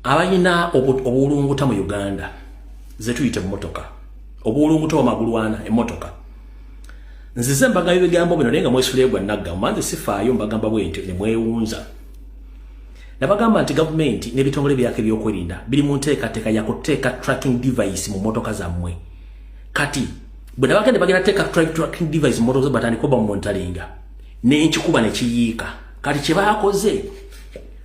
abalina obuwulunguta mu uganda zetuyita emmotoka obuwulunguta wamagulwana emmotoka nzize mbaga ebigambo bino naye nga mwesuleegwa nagga manze sifaayo mbagamba bwentyo nemwewunza nabagamba nti gavumenti n'ebitongole byaka ebyokwerinda biri mu nteekateeka yakuteeka tracking device mu motoka zammwe kati bwe nabagende bagenda teeka tracking device mu motoka za batandika oba mumontalinga n'enkikuba nekiyiika kati kye baakoze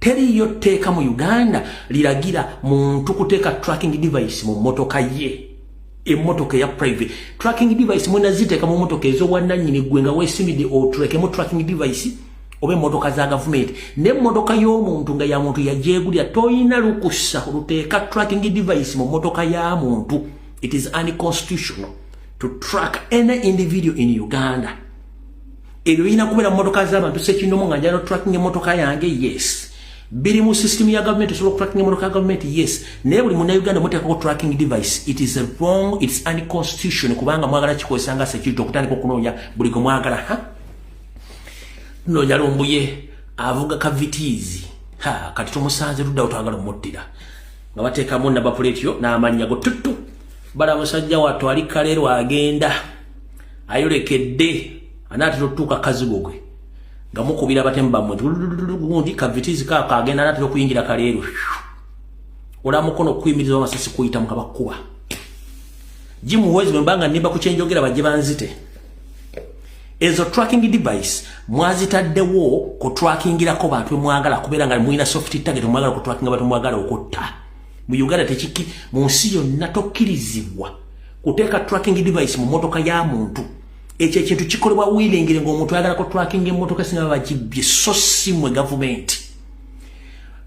teriiyo tteeka mu uganda liragira muntu kuteeka tracking device mu mmotoka ye emmotoka eya private tracking device mwena ziteeka mu mmotoka ez'obwannannyini ggwe nga weesimidde oturekemu tracking device oba emmotoka za gavumenti n'emmotoka y'omuntu nga ya muntu yagyegulira tolina lukusa oluteeka tracking device mu mmotoka ya muntu it is unconstitutional to track any individual in uganda ebyo birina kubeera mu motoka z'abantu sekinomu nga njala tracking emotoka yange yes biri mu system ya government osobola okutracking emotoka ya government yes naye buli munauganda muteekako tracking device it is wrong its unconstitution kubanga mwagala kikozesa nga security okutandika okunoonya buli gwe mwagala ha nojalumbuye avuga kavitiizi ha kati tumusanze luddawo twagala omuttira nga bateekamu nabapuleetiyo n'amannya go tuttu bala musajja wattu ali kaleero agenda ayolekedde anaatera otutuuka kazigo gwe nga mukubira abatemu bammwe gundi kavitizi kaako agenda anaatera okuyingira kaleero ola mukono okukuyimiriza amasasi kuyitamu nga bakuba jimuhwezi bwe mbanga nimba ku kyenjogera bajje banzite ezo tracking device mwazitaddewo ku trackingirako bantu bemwagala kubeera nga mulina soft target mwagala ku trackinga bantu mwagala okutta mu uganda tekiki mu nsi yonna tokkirizibwa kuteeka tracking device mu motoka ya muntu ekyo ekintu kikolebwa wiringire ngaomuntu ayagala ku tracking emotoka singa bakibbye so si mwe gavumenti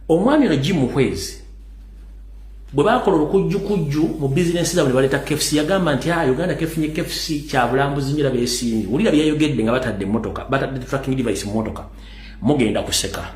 omwami ono jim muhwezi bwe bakola olukujjukujju mu bizinensi zabwe ne baleeta kfc yagamba nti a ah, uganda kefunye kfc kyabulambuzi nyo labeesiimye wulira byeyayogedde nga batadde emotoka batadde tracking device mu motoka mugenda kuseka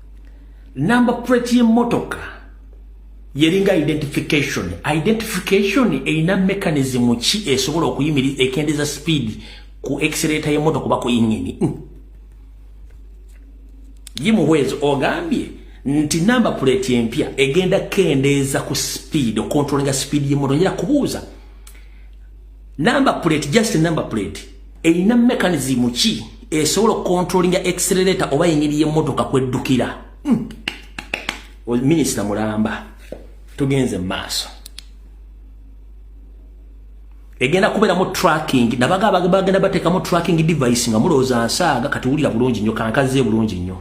Number plate y'emmotoka yeringa identification. Identification erina mechanism ki esobola okuyimiriza ekendeza speed ku accelerator y'emmotoka oba ku yingini. Mm. Yimuhwezi ogambye nti number plate empya egenda kendeeza ku speed okontrolinga speed y'emmotoka. Njira kubuuza. number plate just number plate erina mechanism ki esobola okontrolinga accelerator oba engeri y'emmotoka kweddukira hmm. minisita mulamba tugenze mu maaso egenda kubeeramu tracking nabaga bagenda bateekamu tracking device nga mulowooza nsaaga kati wulira bulungi nnyo kankaze bulungi nnyo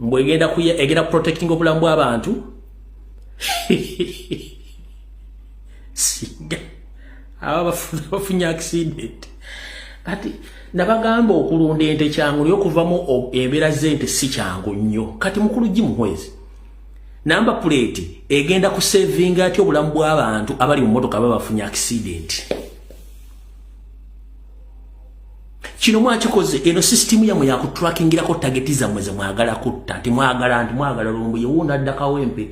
mbwegenda kuya egenda protecting obulamu bw'abantu singa aba bafuna bafunye accident kati nabagamba okulunda ente kyangu naye okuvamu embeera z'ente si kyangu nnyo kati mukulu gi muhwezi namba puleeti egenda kusevinga atya obulamu bw'abantu abali mu motoka baba bafunye accident kino mwakikoze eno sisitimu yamwe yakutrakingirako tageti zammwe zemwagala kutta nti mwagala nti mwagala lumbuye wuuno adda kawempe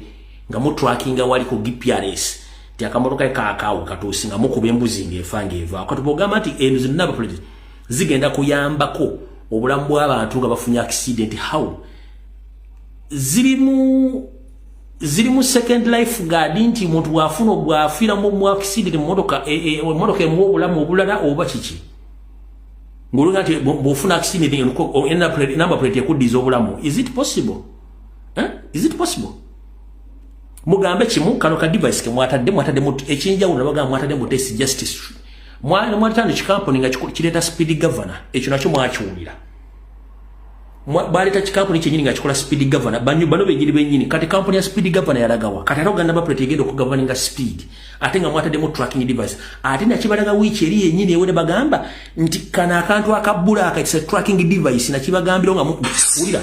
nga mutrakinga wali ku gprs nti akamotoka e kakaawo katuusi nga mukuba embuzi ngaefa ngaevaako kati bwogamba nti eno zinna abapolisi zigenda kuyambako obulamu bw'abantu nga bafunye accident how zirimu ziri mu second life guard nti muntu bwafuna bwafira mu mwakisidi ne motoka e, e, motoka emu obulamu obulala oba kiki ngulunga nti bwofuna akisidi ne ko en na plate number plate ku dizo obulamu is it possible eh is it possible mugambe kimu kano ka device ke mwata de mwata de mut echinja una baga mwata de mut test justice mwana mwata ni chikamponi nga chikileta speed governor echo nacho mwachuulira bwaleta kikampuni kyenyini nga kikola speed governor banyu bano benyini benyini kati kampuni ya speed governor yalagawa kati ate oganda bapreti egenda okugoverninga speed ate nga mwataddemu tracking device ate nakibalaga wiiki eri yenyini ewene bagamba nti kana akantu akabbula akakisa tracking device nakibagambira nga muwulira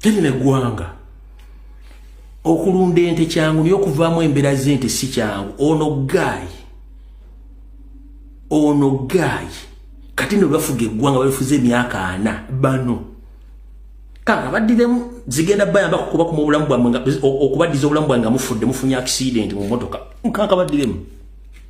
teri negwanga okulunda ente kyangu naye okuvaamu embeera zente si kyangu ono gaayi ono gaayi kati no bafuga eggwanga balifuza emyaka ana bano kanga baddidemu zigenda bayamba kukuba kuma obulamu bwamwe okubaddiza obulamu bwange nga mufudde mufunye akisidenti mu motoka nkanka baddidemu